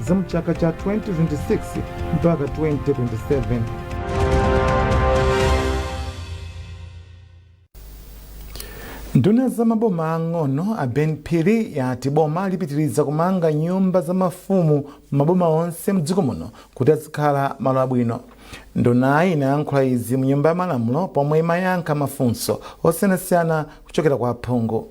za mchaka cha 2026 mpaka 2027. nduna za maboma ang'ono a ben phiri yati boma lipitiriza kumanga nyumba za mafumu m'maboma onse mdziko muno kuti azikhala malo abwino ndunayi inayankhula izi mu nyumba ya malamulo pomwe imayankha mafunso osiyanasiyana kuchokera kwa aphungu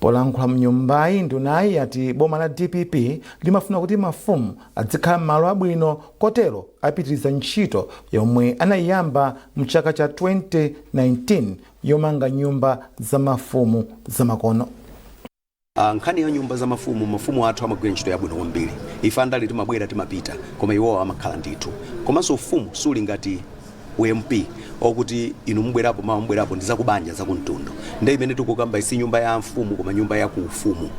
Polankhula mnyumbayi, ndunayi yati boma la dpp limafuna kuti mafumu adzikhala m'malo abwino kotero apitiriza ntchito yomwe anayiyamba mchaka cha 2019 yomanga nyumba za mafumu zamakono. Nkhani ya nyumba za mafumu, mafumu athu amagwira ntchito yabwino kwambiri. Ife andale timabwera timapita koma iwo amakhala ndithu. Komanso ufumu suli ngati u MP okuti inu mubwerapo mawa mubwerapo ndi zakubanja zakumtundu nde imene tikukambayi si nyumba ya mfumu koma nyumba ya ku ufumu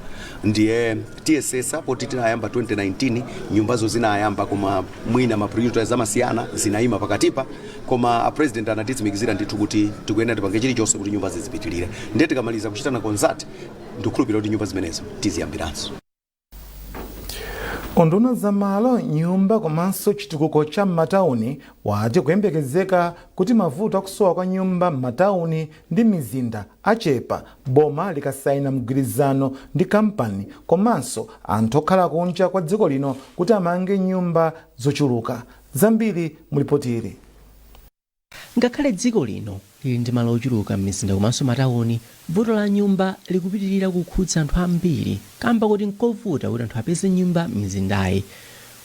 ndiye tiyesetsa poti tinayamba 2019 nyumbazo zinayamba koma mwina ma priorities amasiyana zinaima pakatipa koma a president anatitsimikizira ndithu kuti tikuyenera tipange chilichonse kuti nyumba zizipitirire nde tikamaliza kuchitana consult ndikukhulupirira kuti nyumba zimenezo tiziyambiranso unduna wa za malo nyumba komanso chitukuko cha m'matawuni wati kuyembekezeka kuti mavuto akusowa kwa nyumba m'matawuni ndi mizinda achepa boma likasayina mgwirizano ndi kampani komanso anthu okhala kunja kwa dziko lino kuti amange nyumba zochuluka zambiri mulipotili Ngakhale dziko lino lili ndi malo ochuluka m'mizinda komanso matauni, vuto la nyumba likupitirira kukhudza anthu ambiri kaamba koti n'kovuta kuti anthu apeze nyumba m'mizindayi.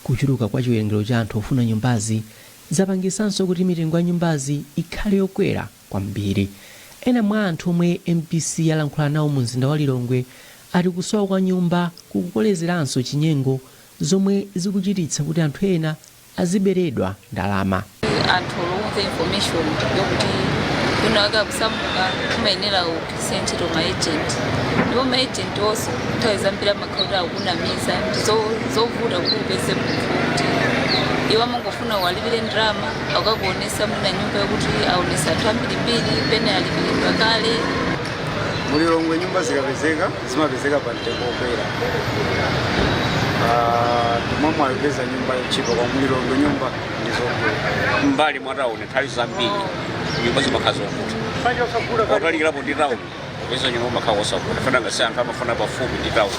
Kuchuluka kwa chiwerengero cha anthu ofuna nyumbazi zapangitsanso kuti mitengo ya nyumbazi ikhale yokwera kwambiri. Ena mwa anthu omwe mbc yalankhula nawo mumzinda wa Lilongwe ati kusowa kwa nyumba kukukolezeranso chinyengo zomwe zikuchititsa kuti anthu ena aziberedwa ndalama. anthu olo umva information yokuti kwinakwake akusamuka umayenera ugwiritse ntchito ma agent ndipo ma agent onso nthawi zambiri amakhala kuti akukunamiza Ndizovuta kuti upeze munthu wokuti iwo amangofuna uwalipire ndalama akakuonetsa mwina nyumba yokuti aonetsa anthu ambirimbiri pena alipiridwa kale mulilongwe nyumba zikapezeka zimapezeka pa mtengo wokwera Ah, simungaipeze nyumba yotchipa kwa mu Lilongwe nyumba ndizodula m'mbali mwa tawuni nthawi zambiri nyumba zimakhala zovuta panja osagula kali otalikirapo ndi tawuni kupeza nyumba kumakhala kosavuta nanga si anthu amafuna pafupi ndi tawuni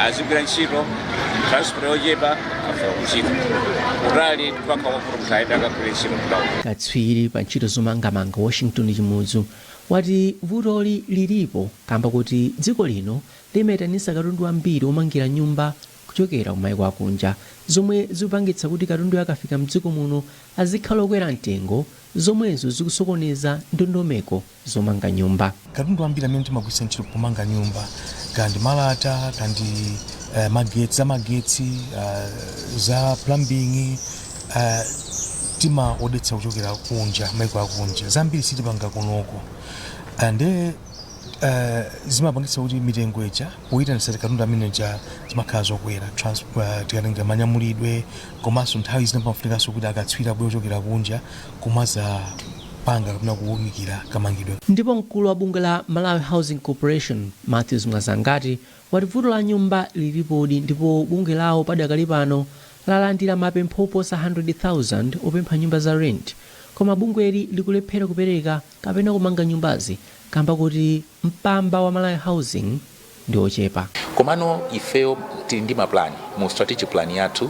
azigwira ntchito transport yochepa afika kuntchito kutali ndi povuta munthu ayende akagwire ntchito ku tawuni katswiri pa ntchito zomangamanga washington chimudzu wati vutoli lilipo kamba koti dziko lino limaitanisa katundu wambiri womangira nyumba kuchokera ku maiko akunja zomwe zikupangitsa kuti katunduyo akafika mdziko muno azikhala okwera mtengo zomwenso zikusokoneza ndondomeko zomanga nyumba. Katundu wambiri amene timagwiritsa ntchito pomanga nyumba kaya ndi malata kaya ndi magetsi, za magetsi, za plumbing, uh timaodetsa kuchokera kunja maiko akunja zambiri sitipanga konkuno uh, nde uh, zimapangitsa kuti mitengo ija poyitanisa katundu amene uja zimakhala zokwera trans- uh, tikatenga manyamulidwe komanso nthawi zina pamafunikanso kuti akatswiri abwere kuchokera kunja kumadzapanga kapena kuwunikira kamangidwe ndipo mkulu wa bungwe la malawi housing corporation matthews mwazangati wati vuto la nyumba lilipodi ndipo bungwe lawo padakali pano lalandira mapempho oposa 100,000 opempha nyumba za rent koma bungweli likulephera kupereka kapena kumanga nyumbazi kamba koti mpamba wa Malawi Housing ndi wochepa. Komano ifeyo tili ndi mapulani mu strategic plan yathu.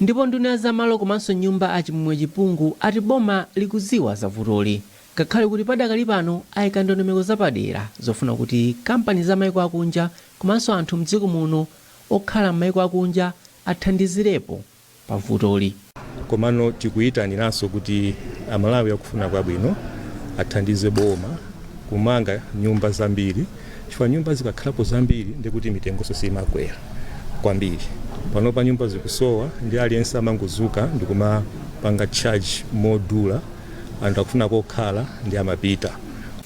Ndipo nduna ya za malo komanso nyumba a Chimwemwe Chipungu ati boma likudziwa za vutoli ngakhale kuti padakali pano aika ndondomeko zapadera zofuna kuti kampani za maiko akunja komanso anthu a m'dziko muno okhala m'maiko akunja athandizirepo pa vutoli. Komano tikuitaniranso kuti Amalawi akufuna kwabwino athandize boma kumanga nyumba zambiri. chifukwa nyumba zikakhalapo zambiri ndiye kuti mitengonso siimakwera kwambiri panopa nyumba zikusowa nde aliyense amangodzuka ndikumapanga charge modula anthu akufuna kokhala nde amapita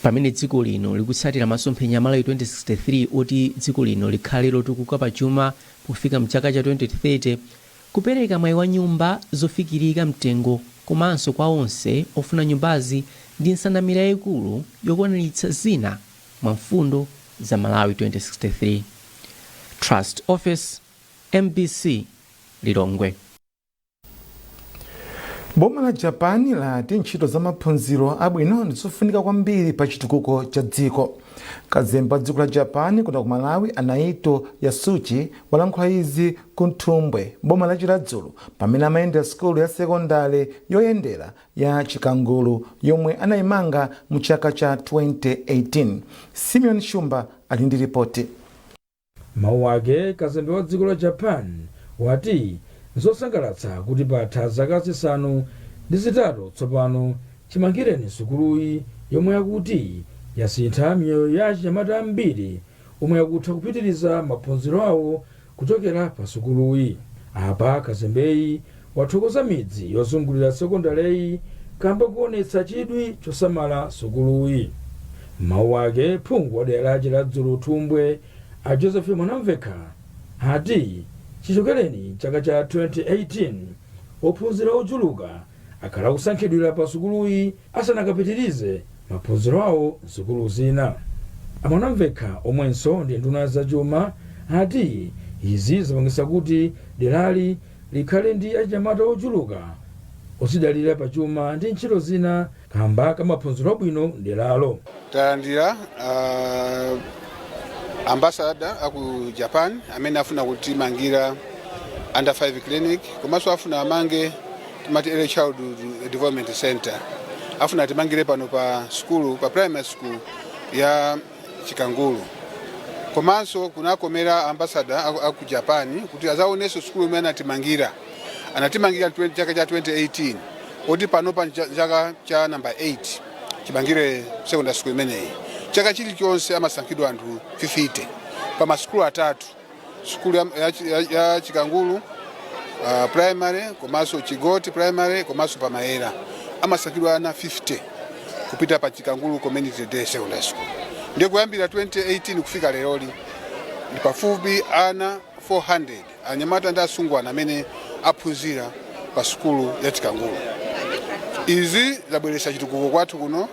pamene dziko lino likutsatira masomphenya a malawi 2063 oti dziko lino likhale lotukuka pa chuma pofika mchaka cha 2030 kupereka mwayi wa nyumba zofikirika mtengo komanso kwa onse ofuna nyumbazi ndi nsanamira yayikulu yokwaniritsa zina mwa mfundo za Malawi 2063. Trust Ofesi, mbc Lilongwe. Boma la Japan lati ntchito za maphunziro abwino ndi zofunika kwambiri pa chitukuko cha dziko. Kazembe wa dziko la Japan kuno ku Malawi a Naito Yasushi walankhula izi ku Nthumbwe m'boma la Chiradzulu pamene amayendera sukulu ya sekondale yoyendera ya Chikangulu yomwe anaimanga mu chaka cha 2018. Simeon Shumba ali ndi ripoti. M'mawu ake, kazembe wa dziko la Japan wati nzosangalatsa kuti patha zaka zisanu ndi zitatu tsopano chimangireni sukuluyi yomwe akuti yasintha miyoyo ya achinyamata ambiri omwe akutha kupitiriza maphunziro awo Kuchokera pa sukuluyi, apa kazembeyi wathokoza midzi yozungulira sekondaleyi kamba koonetsa chidwi chosamala sukuluyi. M'mawu ake phungu wa dera la Chiradzulu Thumbwe a Joseph Mwanamvekha ati chichokereni chaka cha 2018 ophunzira ochuluka akhala akusankhidwira pa sukuluyi asanakapitirize maphunziro awo m'sukulu zina. A Mwanamvekha omwenso ndi nduna ya zachuma ati izi zapangitsa kuti derali likhale ndi achinyamata ochuluka odzidalira pa chuma ndi ntchito zina kamba ka maphunziro abwino mderalo. talandira uh, ambasada aku japan amene afuna kutimangira under 5 clinic komanso afuna amange timati early childhood development center afuna timangire pano pa sukulu pa primary school ya chikangulu komanso kunakomera ambasada aku, aku japan kuti azaonenso sukulu imene anatimangira anatimangira 20 chaka cha 2018 poti panopa nja- chaka cha namba 8 chimangire secondary school imeneyi chaka chilichonse amasankhidwa anthu 50 pa masukulu atatu sukulu ya, ya, ya, ya chikangulu uh, primary komanso chigoti primary komanso pa Mayera amasankhidwa ana 50 kupita pa chikangulu community day secondary school ndiye kuyambira 2018 kufika leroli ndi pafupi ana 400 anyamata ndi asungwana amene aphunzira pa sukulu ya chikangulu izi zabweretsa chitukuko kwathu kuno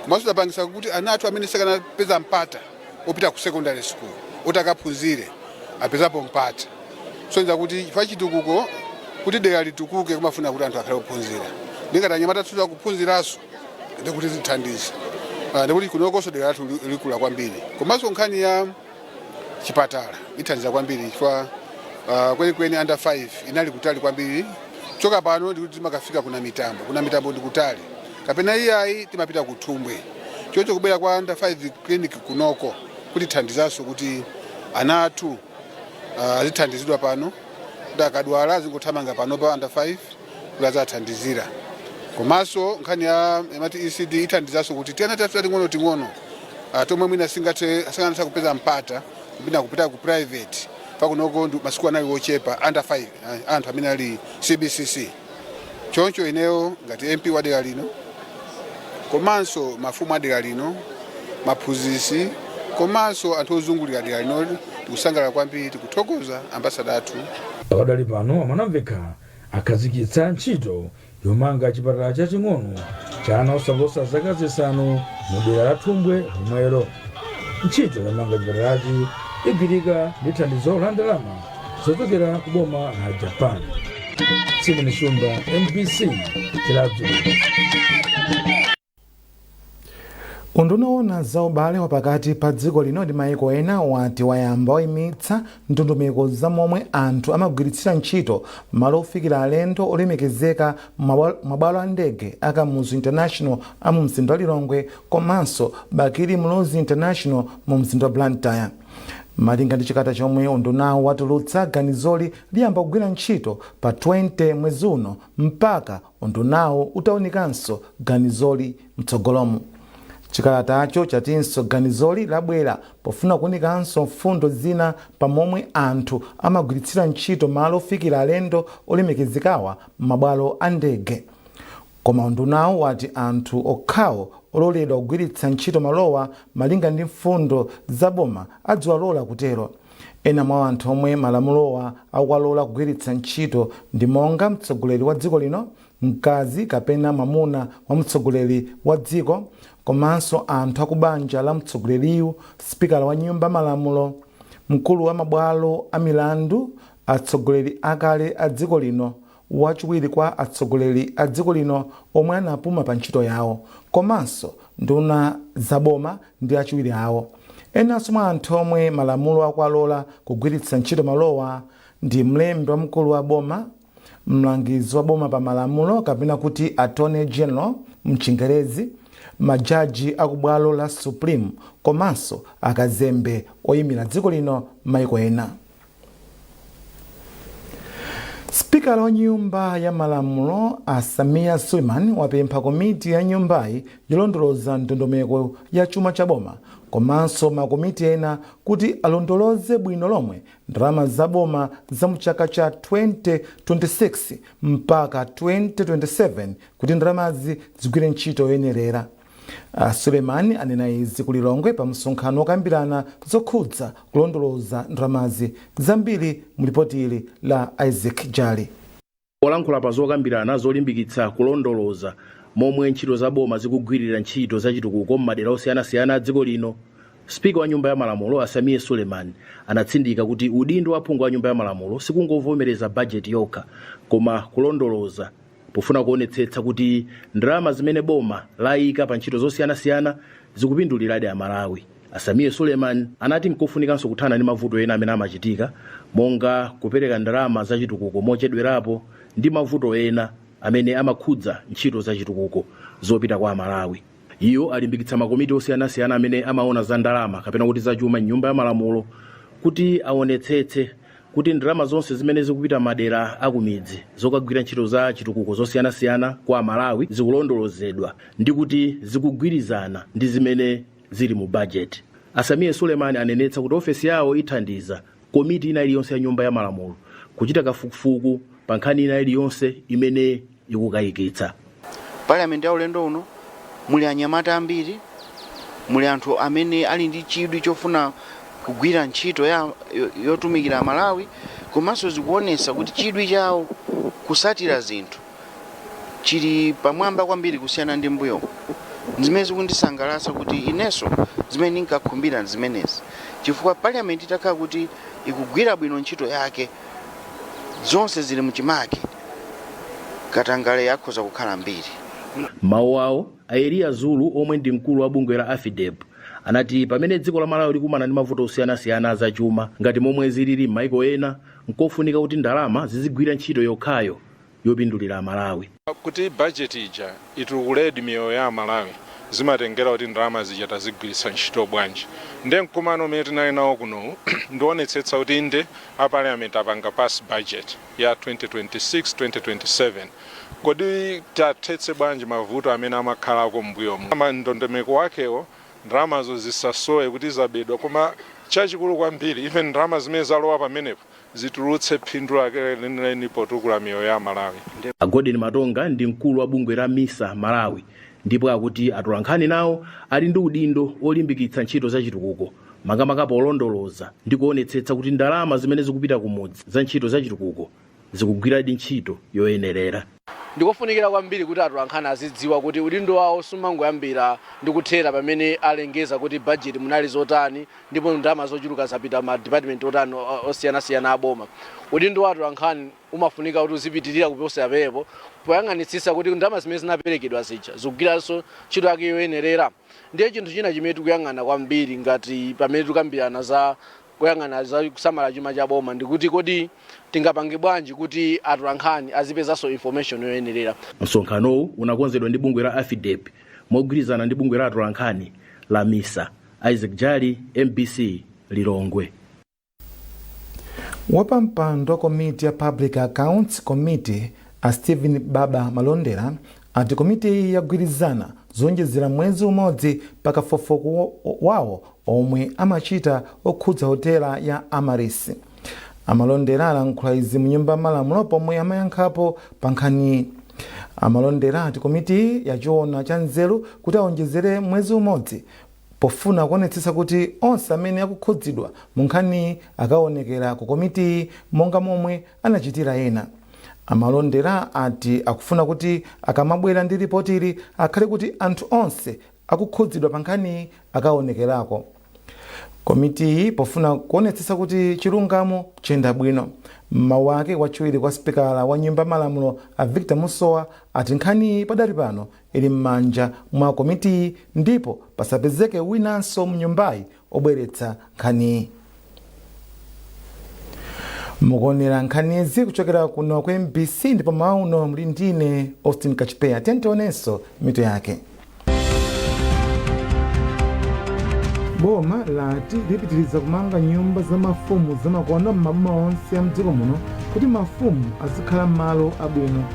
komanso zapangisa kuti ana athu amene sakanapeza mpata opita ku secondary school oti akaphunzire apezapo mpata kusonyeza kuti chifukwa chitukuko kuti dera litukuke kumafuna kuti anthu akhale ophunzira nde ngati anyamata athu akuphunziraso ndi kuti zithandize Ah, ndi kuti kunokonso dera lathu li- likula kwambiri komanso nkhani ya chipatala ithandiza kwambiri chifukwa ah, kwenikweni under 5 inali kutali kwambiri choka pano ndikuti timakafika ku Namitambo ku Namitambo ndikutali kapena iyayi timapita ku thumbwe chocho kubwera kwa under 5 clinic kunoko kutithandizanso kuti ana athu ah, azithandizidwa pano kuti akadwala azingothamanga pano pa under 5 kuti azathandizira komanso nkhani ya amati ecd ithandizanso kuti tiana tathu tating'ono ting'ono ah, tomwe mwina singathe sangatha kupeza mpata kupita kupita ku private pakunoko ndi masiku anali wochepa under 5 ah, anthu amene ali cbcc choncho ineyo ngati mp wa dera lino komanso mafumu a dera lino maphunzitsi komanso anthu ozungulira dera lino tikusangalala kwambiri tikuthokoza ambasada athu pakadali pano a Mwanamvekha akhazikitsa ntchito yomanga chipatala chaching'ono cha ana osaposa zaka zisanu mu dera la thumbwe lomwelo ntchito yomanga chipatalachi igwirika ndi thandizo la ndalama zochokera ku boma la japan simeon shumba mbc chiradzulu unduna owona za ubale wa pakati pa dziko lino ndi maiko ena wati wayamba wayimitsa ndondomeko za momwe anthu amagwiritsira ntchito malo ofikira alendo olemekezeka m'mabwalo a ndege a kamuzu international a mu mzinda wa lilongwe komanso bakili muluzi international mu mzinda wa blantyre Malinga ndi chikalata chomwe undunawu watulutsa, ganizoli liyamba kugwira ntchito pa 20 mwezi uno mpaka undunawu utaunikanso ganizoli mtsogolomu. Chikalatacho chatinso ganizoli labwera pofuna kuunikanso mfundo zina pa momwe anthu amagwiritsira ntchito malo ofikira alendo olemekezekawa m'mabwalo a ndege. Koma undunawu wati anthu okhawo ololedwa kugwiritsa ntchito malowa malinga ndi mfundo za boma aziwalola kutero. Ena mwa anthu omwe malamulowa akuwalola kugwiritsa ntchito ndi monga mtsogoleri wa dziko lino, mkazi kapena mwamuna wa mtsogoleri wa dziko komanso anthu a kubanja la mtsogoleriyu, sipikala wa nyumba malamulo, mkulu wa mabwalo a milandu, atsogoleri akale a dziko lino wachiwiri kwa atsogoleri a dziko lino omwe anapuma pa ntchito yawo, komanso nduna za boma ndi achiwiri awo. Enanso mwa anthu omwe malamulo akuwalola kugwiritsa ntchito malowa ndi mlembi wamkulu wa boma, mlangizi wa boma pa malamulo kapena kuti Attorney General m'Chingerezi, majaji a ku bwalo la Supreme komanso akazembe oimira dziko lino m'mayiko ena. Spikala wa nyumba ya malamulo a Sameer Suleman wapempha komiti ya nyumbayi yolondoloza ndondomeko ya chuma cha boma komanso makomiti ena kuti alondoloze bwino lomwe ndalama za boma za mu chaka cha 2026 mpaka 2027 kuti ndalamazi zigwire ntchito yoyenerera. Suleman anena izi ku Lilongwe pa msonkhano wokambirana zokhudza kulondoloza ndalamazi. Zambiri mu lipoti ili la Isaac Jali. Polankhula pa zokambirana zolimbikitsa kulondoloza momwe ntchito za boma zikugwirira ntchito za chitukuko m'madera osiyanasiyana a dziko lino, Speaker wa Nyumba ya Malamulo a Sameer Suleman anatsindika kuti udindo wa phungu wa Nyumba ya Malamulo sikungovomereza bajeti yokha koma kulondoloza pofuna kuonetsetsa kuti ndalama zimene boma layika pa ntchito zosiyanasiyana zikupinduliradi Amalawi. A Sameer Suleman anati nkofunikanso kuthana ndi mavuto ena amene amachitika monga kupereka ndalama zachitukuko mochedwerapo ndi mavuto ena amene amakhudza ntchito zachitukuko zopita kwa Amalawi. Iwo alimbikitsa makomiti osiyanasiyana amene amaona za ndalama kapena kuti zachuma m'Nyumba ya Malamulo kuti aonetsetse kuti ndalama zonse zimene zikupita m'madera akumidzi zokagwira ntchito za chitukuko zosiyanasiyana kwa Amalawi zikulondolozedwa ndi kuti zikugwirizana ndi zimene zili mu bajeti. A Sameer Suleman anenetsa kuti ofesi yawo ithandiza komiti ina iliyonse ya Nyumba ya Malamulo kuchita kafukufuku pa nkhani ina iliyonse imene ikukayikitsa. Parliament ya ulendo uno muli anyamata ambiri, muli anthu amene ali ndi chidwi chofuna kugwira ntchito yotumikira Malawi komanso zikuonesa kuti chidwi chawo kusatira zinthu. chili pamwamba kwambiri kusiyana ndi mbuyo zimene zikundisangalatsa kuti inenso zimene ndinkakhumbira zimenezi chifukwa parliament itakhala kuti ikugwira bwino ntchito yake zonse zili mchimake katangale akhoza kukhala mbiri mawu awo a eliya zulu omwe ndi mkulu wa bungwe la afidep anati pamene dziko la malawi likukumana ndi mavuto osiyanasiyana azachuma ngati momwe zilili m'maiko ena nkofunika kuti ndalama zizigwira ntchito yokhayo yopindulira amalawi. Kuti budget ija itukuledi miyoyo ya amalawi zimatengera kuti ndalama zija tazigwiritsa ntchito bwanji. Nde mkumano umene tinali nawo kunowu ndionetsetsa kuti inde a parliament apanga pass budget ya 2026, 2027. Kodi tiathetse bwanji mavuto amene amakhalako mmbuyomu. Ndondomeko wakewo ndalamazo zisasowe kuti zabedwa koma chachikulu kwambiri even ndalama zimene zalowa pamenepo. zitulutse phindu lake lenileni potukula miyoyo ya Amalawi. A Golden Matonga ndi mkulu wa bungwe la misa Malawi ndipo akuti atolankhani nawo ali ndi udindo olimbikitsa ntchito za chitukuko makamaka polondoloza ndi kuonetsetsa kuti ndalama zimene zikupita kumudzi za ntchito za chitukuko zikugwiradi ntchito yoyenerera. Ndikofunikira kwambiri kuti atolankhani azidziwa kuti udindo wawo sumangoyambira ndi kuthera pamene alengeza kuti budget munali zotani ndipo ndalama zochuluka zapita ma department otani osiyanasiyana a boma. Udindo wa atolankhani umafunika kuti uzipitilira kuposera apapo poyang'anitsitsa kuti ndalama zimene zinaperekedwa zija zikugwiranso ntchito yake yoyenerera. Ndiye chinthu china chimene tikuyang'ana kwambiri ngati pamene tikukambirana za. kuyang'ana za kusamala chuma cha boma ndikuti kodi tingapange bwanji kuti atolankhani azipezanso information yoyenerera Msonkhanowu unakonzedwa ndi bungwe la AFIDEP mogwirizana ndi bungwe la atolankhani la MISA. Isaac Jali, MBC, Lilongwe. wapampando wa komiti ya public accounts committee a stephen baba malondera ati komitiyi yagwirizana zoonjezera mwezi umodzi pa kafukufuku wawo omwe amachita okhudza hotela ya Amaryllis. A Malondera alankhula izi mu nyumba ya malamulo pomwe amayankhapo pa nkhaniyi. A Malondera ati komitiyi yachiona cha nzeru kuti aonjezere mwezi umodzi Pofuna kuonetsetsa kuti onse amene akukhudzidwa mu nkhaniyi akaonekera ku komitiyi monga momwe anachitira ena, a Malondera ati akufuna kuti akamabwera ndi lipotili akhale kuti anthu onse akukhudzidwa pa nkhaniyi akaonekerako. Komitiyi pofuna kuonetsetsa kuti chilungamo chayenda bwino, m'mawu ake wachiwiri kwa sipikala wa nyumba ya malamulo a Victor Musowa ati nkhaniyi padali pano ili mmanja mwa komitiyi ndipo pasapezeke winanso mnyumbayi obweretsa nkhaniyi. mukuonera nkhanizi kuchokera kuno ku mbc ndipo m'mawa uno muli ndine austin kachipeya tiyeni tionenso mitu yake boma lati lipitiriza kumanga nyumba za mafumu zamakono m'maboma onse a mdziko muno kuti mafumu azikhala m'malo abwino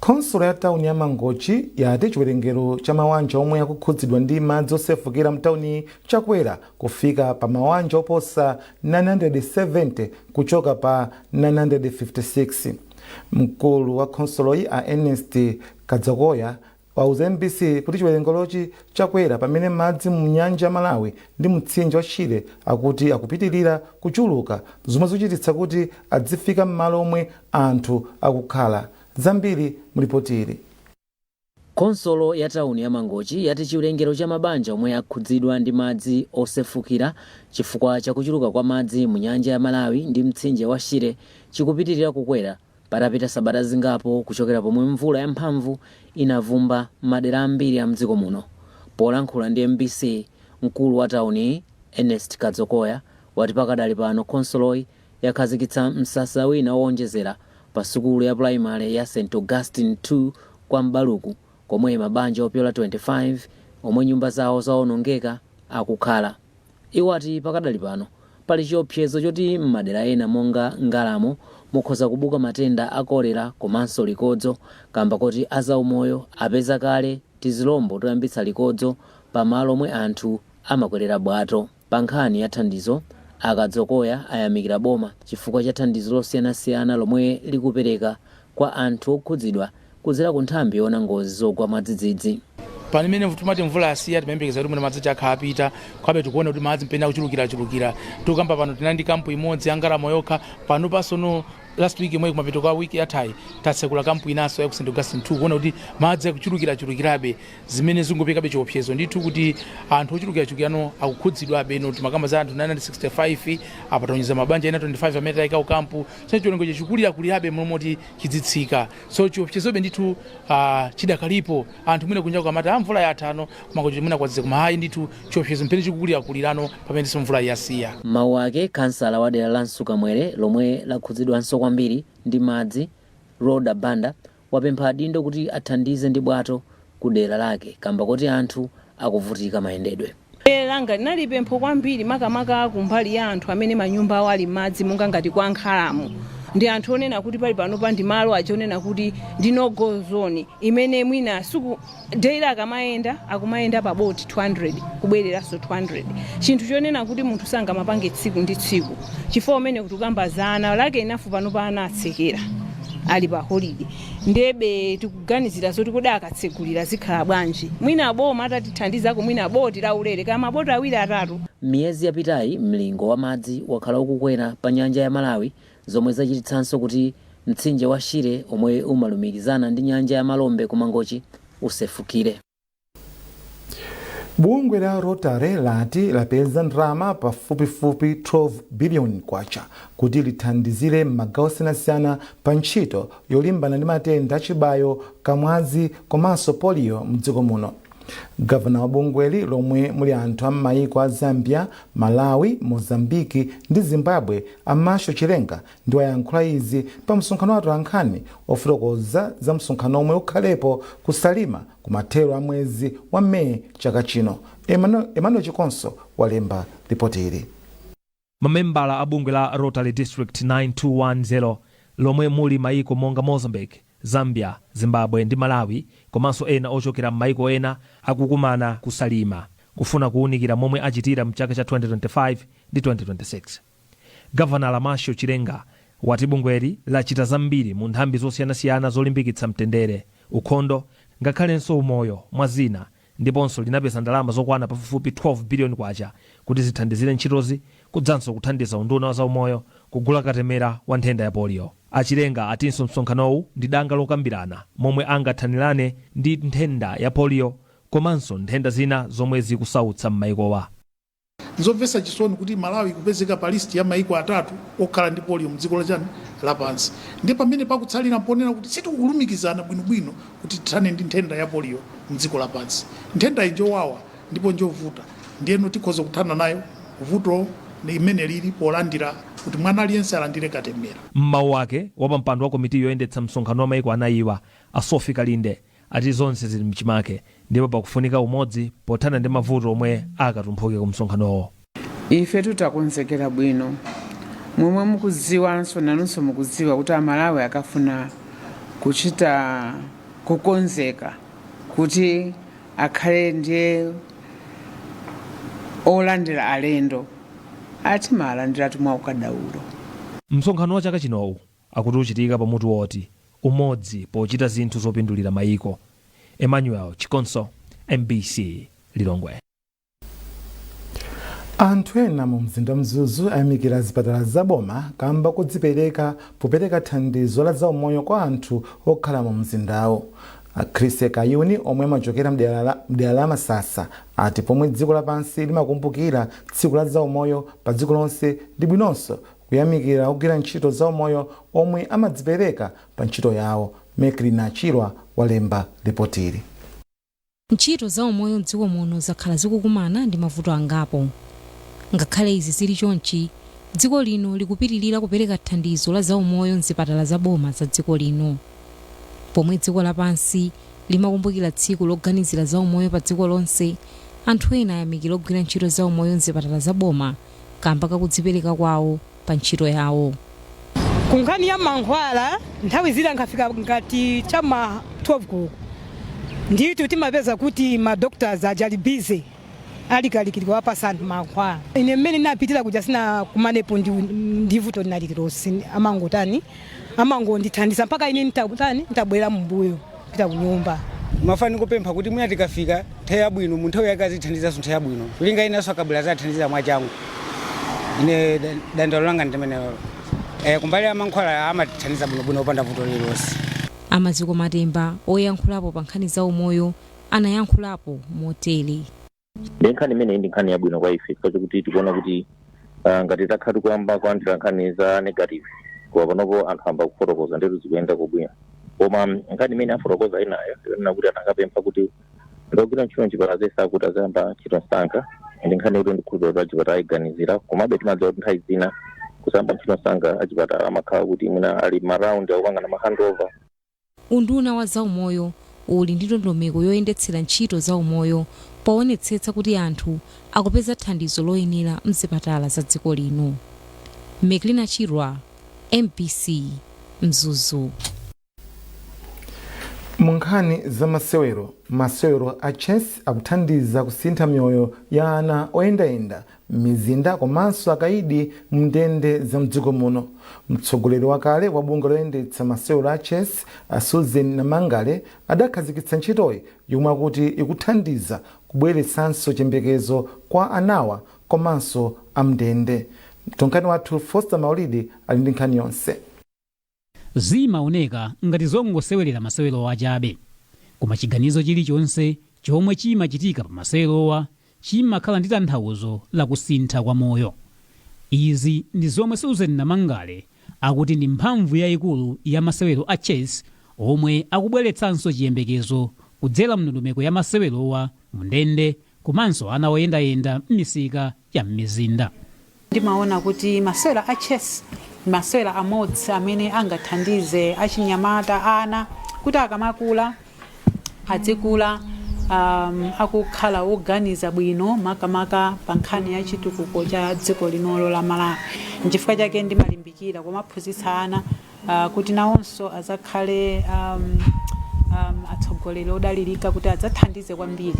Khonsolo ya tauni ya Mangochi yati chiwerengero cha mawanja omwe akukhudzidwa ndi madzi osefukira mtauniyi chakwera kufika pa mawanja oposa 970 kuchoka pa 956. Mkulu wa khonsoloyi a Ernest Kadzokoya wauza mbc kuti chiwerengerochi chakwera pamene madzi mu nyanja ya Malawi ndi mtsinje wa Shire akuti akupitilira kuchuluka zomwe zochititsa kuti adzifika m'malo omwe anthu akukhala. Zambiri mu lipoti ili. Khonsolo ya tawuni ya Mangochi yati chiwerengero cha mabanja omwe akhudzidwa ndi madzi osefukira chifukwa cha kuchuluka kwa madzi mu nyanja ya Malawi ndi mtsinje wa Shire chikupitilira kukwera Patapita sabata zingapo kuchokera pomwe mvula yamphamvu inavumba m'madera ambiri a mdziko muno, polankhula ndi mbc mkulu wa tauniyi Ernest Kadzokoya wati pakadali pano khonsoloyi yakhazikitsa msasa wina owonjezera pa sukulu ya pulayimale ya St Augustine 2 kwa M'baluku komwe mabanja opyola 25 omwe nyumba zawo zawonongeka akukhala. Iwo ati pakadali pano pali chiopsezo choti m'madera ena monga Ngalamo mukhoza kubuka matenda a kolera komanso likodzo kamba koti azaumoyo apeza kale tizilombo toyambitsa likodzo pa malo omwe anthu amakwelera bwato. Pa nkhani ya thandizo, a Kadzokoya ayamikira boma chifukwa cha thandizo losiyanasiyana lomwe likupereka kwa anthu okhudzidwa kudzera ku nthambi yoona ngozi zogwa mwadzidzidzi. Pamene timati mvula yasiya timayembekeza kuti mwina madzi aja akhala atapita, komabe tikuona kuti madzi m'pamene akuchulukirachulukira. Tikukamba pano tinali ndi kampu imodzi ya Ngalamo yokha, panopa sono last week yomweyi kumapeto kwa week yathayi tatsekula kampu inanso ya ku St. Augustine 2 kuona kuti madzi akuchulukirachulukirabe zimene zikuperekabe chiopsezo ndithu kuti anthu ochulukirachulukirano akukhudzidwabe. Ino timakamba za anthu 965 apa taonjezera mabanja ena 25 amene tayika ku kampu so chiwerengerocho chikulirakulirabe m'malo moti chizitsika so chiopsezobe ndithu chidakalipo anthu mwina kunja akamati a mvula yathano koma kuti mwina kwazizira koma ayi ndithu chiopsezo m'pamene chikukulirakulirano pamenenso mvula yasiya M'mawu ake, kansala wa dera la Msukamwere lomwe lakhudzidwanso kwambiri ndi madzi, Rhoda Banda, wapempha adindo kuti athandize ndi bwato ku dera lake kamba koti anthu akuvutika mayendedwe. Langa linali pempho kwambiri makamaka kumbali ya anthu amene manyumba awo ali m'madzi monga ngati kwa Ngalamo. Ndi anthu onena kuti pali panopa ndi malo aja onena kuti ndi no go zone imene mwina tsiku daily akamayenda akumayenda pa boti 200 kubwereranso 200 chinthu chonena kuti munthu sangamapange tsiku ndi tsiku chifukwa pamene tikukamba za ana a sukulu panopa ana atsekera ali pa holide ndebe tikuganizira zoti kodi akatsegulira zikhala bwanji mwina boma atatithandizako mwina boti laulere kaya maboti awiri atatu M'miyezi yapitayi, mlingo wa madzi wakhala ukukwera pa nyanja ya Malawi zomwe zachititsanso kuti mtsinje wa Shire omwe umalumikizana ndi nyanja ya Malombe ku Mangochi usefukire. Bungwe la Rotary lati lapeza ndalama pafupifupi 12 biliyoni kwacha kuti lithandizire m'magawo osiyanasiyana pa ntchito yolimbana ndi matenda achibayo, kamwazi komanso poliyo mdziko muno. Gavanala wa bungweli lomwe muli anthu a mmaiko a Zambia, Malawi, Mozambique ndi Zimbabwe a Marshal Chilenga ndi wayankhula izi pa msonkhano wa atolankhani wofotokoza za msonkhano omwe ukhalepo ku Salima kumathero a mwezi wa May chaka chino. Emmanuel Chikonso walemba lipoti ili. Mamembala a bungwe la Rotary District 9210 lomwe muli mayiko monga Mozambique, Zambia, Zimbabwe ndi Malawi komanso ena ochokera m'mayiko ena akukumana ku Salima kufuna kuwunikira momwe achitira m'chaka cha 2025 ndi 2026. Gavanala Marshal Chilenga wati bungweli lachita zambiri mu nthambi zosiyanasiyana zolimbikitsa mtendere, ukhondo ngakhalenso umoyo mwa zina. ndiponso linapeza ndalama zokwana pafupifupi 12 biliyoni kwacha kuti zithandizire ntchitozi kudzanso kuthandiza unduna wa zaumoyo kugula katemera wa nthenda ya polio. A Chilenga atinso msonkhanowu ndi danga lokambirana momwe angathanirane ndi nthenda ya polio komanso nthenda zina zomwe zikusautsa m'mayikowa. Nzomvetsa chisoni kuti Malawi ikupezeka pa list ya maiko atatu okhala ndi polio mdziko la chani lapansi ndiye pamene pakutsalira mponena kuti sitikulumikizana bwino bwino kuti tithane ndi nthenda ya polio mdziko lapansi. Nthendayi njowawa ndipo njovuta ndiyeno tikhoza kuthana nayo vuto limene lili polandira kuti mwana aliyense alandire katemera. Mmau ake, wapampando wa komiti yoyendetsa msonkhano wa maiko anayiwa, a Sophie Kalinde, ati zonse zili mchimake ndipo pakufunika umodzi pothana ndi mavuto omwe akatumphuke ku msonkhanowo. Ifetu takonzekera bwino. Momwe mukudziwanso nanunso mukudziwa kuti Amalawi akafuna kuchita kukonzeka kuti akhale ndiye olandira alendo atimalandiratu mwaukadaulo. Msonkhano wa chaka chinowu akuti uchitika pa mutu woti, Umodzi pochita zinthu zopindulira maiko. Emmanuel Chikonso, MBC Lilongwe. Anthu ena mu mzinda wa Mzuzu ayamikira zipatala za boma kamba kodzipereka popereka thandizo la zaumoyo kwa anthu okhala mu mzindawo. A Chrissie Kayuni omwe amachokera mdera la- mdera la Masasa ati pomwe dziko lapansi limakumbukira tsiku la zaumoyo pa dziko lonse ndi bwinonso Kuyamikira ogwira ntchito zaumoyo omwe amadzipereka pa ntchito yawo, Meklina Chirwa walemba lipotili. Ntchito za umoyo m'dziko muno zakhala zikukumana ndi mavuto angapo. Ngakhale izi zili chonchi, dziko lino likupitilira kupereka thandizo la zaumoyo m'zipatala za boma za dziko lino. Pomwe dziko lapansi limakumbukira tsiku loganizira zaumoyo pa dziko lonse, anthu ena ayamikira ogwira ntchito zaumoyo m'zipatala za boma. kaamba ka kudzipereka kwawo pa ntchito yawo. Ku nkhani ya mankhwala, nthawi zina nkafika ngati cha m'ma 12 koloko ndithu timapeza kuti ma doctors aja ali busy ali kalikiliki kuwapatsa anthu mankhwala. Ine mmene ndinapitira kuja sindinakumanepo ndi ndi vuto lina lililonse, anangotani, anangondithandiza mpaka ine nditangotani, nditabwerera m'mbuyo. kupita kunyumba. Ndimafuna ndikupempha kuti mwina tikafika nthawi yabwino mu nthawi yake azithandizanso nthawi yabwino kulinga enanso akabwera azathandiza mwachangu ine da- dandaulo langa ndimenelo eh, kumbali ya mankhwala amatithandiza bwinobwino opanda vuto lililonse A Maziko Matemba, oyankhulapo pa nkhani za umoyo, anayankhulapo motere. ndi nkhani imeneyi ndi nkhani yabwino kwa ife chifukwa chakuti tikuona kuti ah, ngati takhala tikuyamba kulandira nkhani za negative koma panopo anthu amba kufotokoza ndithu zikuyenda bwino koma mm, nkhani imene afotokoza enawo ikunena kuti anakapempha kuti ogwira ntchito mchipatala zese akuti aziyamba ntchito msanga ndi nkhani yoti ndikhulupirira kuti achipatala ayiganizira komabe timadziwa kuti nthawi zina kusayamba ntchito msanga achipatala amakhala kuti mwina ali maraundi akupangana mahandover Unduna wa zaumoyo uli ndi ndondomeko yoyendetsera ntchito za umoyo powonetsetsa kuti anthu akupeza thandizo loyenera mzipatala za dziko lino. Meklina Chirwa, mbc, Mzuzu. Mu nkhani za masewero, masewero a Chess akuthandiza kusintha miyoyo ya ana oyendayenda m'mizinda komanso akaidi m'ndende za mdziko muno. Mtsogoleri wakale wa bungwe loyendetsa masewero a chess a Susan Namangale adakhazikitsa ntchitoyi yomwe akuti ikuthandiza kubweretsanso chiyembekezo kwa anawa komanso a m'ndende. Mtolankhani wathu Foster Maulidi ali ndi nkhani yonse. Zimaoneka ngati zongosewerera masewerowa chabe, koma chiganizo chilichonse chomwe chimachitika pa masewerowa chimakhala ndi tanthauzo la kusintha kwa moyo. Izi ndi zomwe Susan Namangale akuti ndi mphamvu yaikulu ya masewero a Chess omwe akubweretsanso chiyembekezo kudzera mndondomeko ya masewerowa mu ndende komanso ana oyendayenda m'misika ya m'mizinda. Ndimaona kuti masewera a chess ndi masewera amodzi amene angathandize achinyamata, ana, kuti akamakula adzikula um, akukhala oganiza bwino makamaka pa nkhani ya chitukuko cha dziko linolo la Malawi. Nchifukwa chake ndimalimbikira kumaphunzitsa ana uh, kuti nawonso adzakhale um, um, atsogoleri odalirika kuti adzathandize kwambiri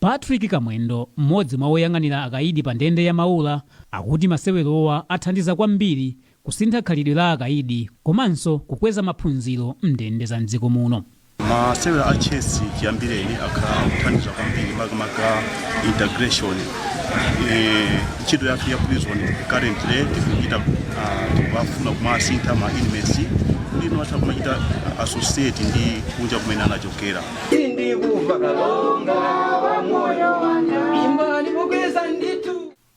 Patrick Kamwendo, mmodzi mwa oyang'anira akaidi pa ndende ya Maula, akuti masewerowa athandiza kwambiri kusintha khalidwe la akaidi komanso kukweza maphunziro m'ndende za m'dziko muno. masewera a chess chiyambireni akhala akuthandiza kwambiri makamaka integration Eh, ntchito yathu ya prison currently tikuchita ah, tikufuna kumasintha ma inmates kuti ino atha kumachita associate ndi kunja kumene anachokera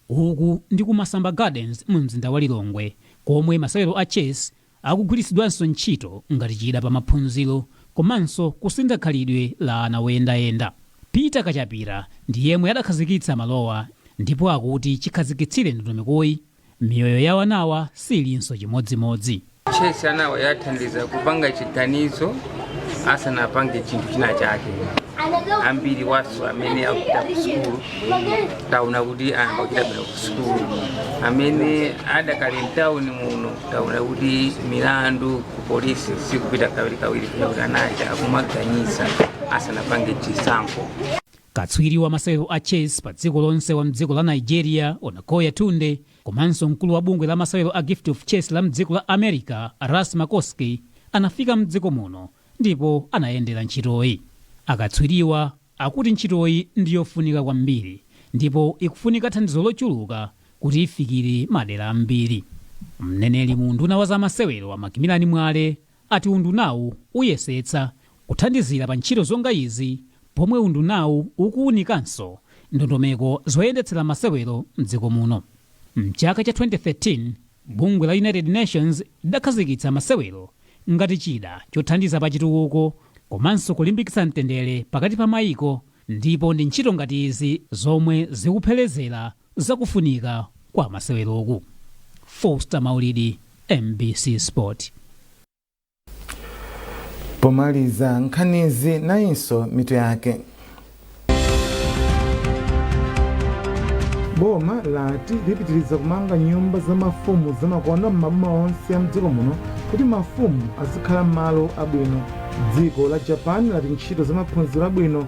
Uku ndi ku Masamba Gardens mu mzinda wa Lilongwe komwe masewero a Chess akugwiritsidwanso ntchito ngati chida pa maphunziro komanso kusintha khalidwe la ana oyendayenda. Peter Kachapira ndi yemwe adakhazikitsa malowa ndipo akuti chikhazikitsire ndondomekoyi, miyoyo ya anawa siilinso chimodzimodzi. chess anawa yathandiza kupanga chiganizo asanapange chinthu china chake ambiri awonso amene akupita kusukulu taona kuti ana akuchita bwino kusukulu amene adakali mtawuni muno taona kuti milandu ku polisi sikupita kawirikawiri chifukwa choti anaja akumaganiza asanapange chisankho katswiri wa masewero a chess pa dziko lonse wa mdziko la nigeria onakoya tunde Komanso mkulu wa bungwe la masewero a Gift of Chess la mdziko la America a Russ Makofsky anafika mdziko muno ndipo anayendera ntchitoyi. Akatswiriwa akuti ntchitoyi ndi yofunika kwambiri ndipo ikufunika thandizo lochuluka kuti ifikire madera ambiri. Mneneri mu unduna wa za masewero a Macmillan Mwale ati undunawu uyesetsa kuthandizira pa ntchito zonga izi pomwe undunawu ukuwunikanso ndondomeko zoyendetsera masewero m'dziko muno. M'chaka cha 2013, bungwe la United Nations lidakhazikitsa masewero ngati chida chothandiza pa chitukuko komanso kulimbikitsa mtendere pakati pa maiko ndipo ndi ntchito ngati izi zomwe zikupherezera za kufunika kwa maseweroku. Foster Maulidi, mbc Sport. pomaliza nkhanizi nayinso mitu yake boma lati lipitiriza kumanga nyumba za mafumu zamakono m'maboma onse a mdziko muno kuti mafumu azikhala m'malo abwino dziko la japan lati ntchito za maphunziro abwino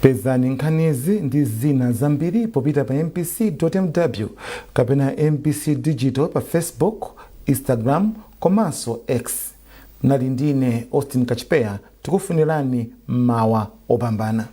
pezani nkhanizi ndi zina zambiri popita pa mbc.mw kapena mbc digital pa facebook instagram komanso x munali ndi ine austin kachipeya tikufunirani mmawa opambana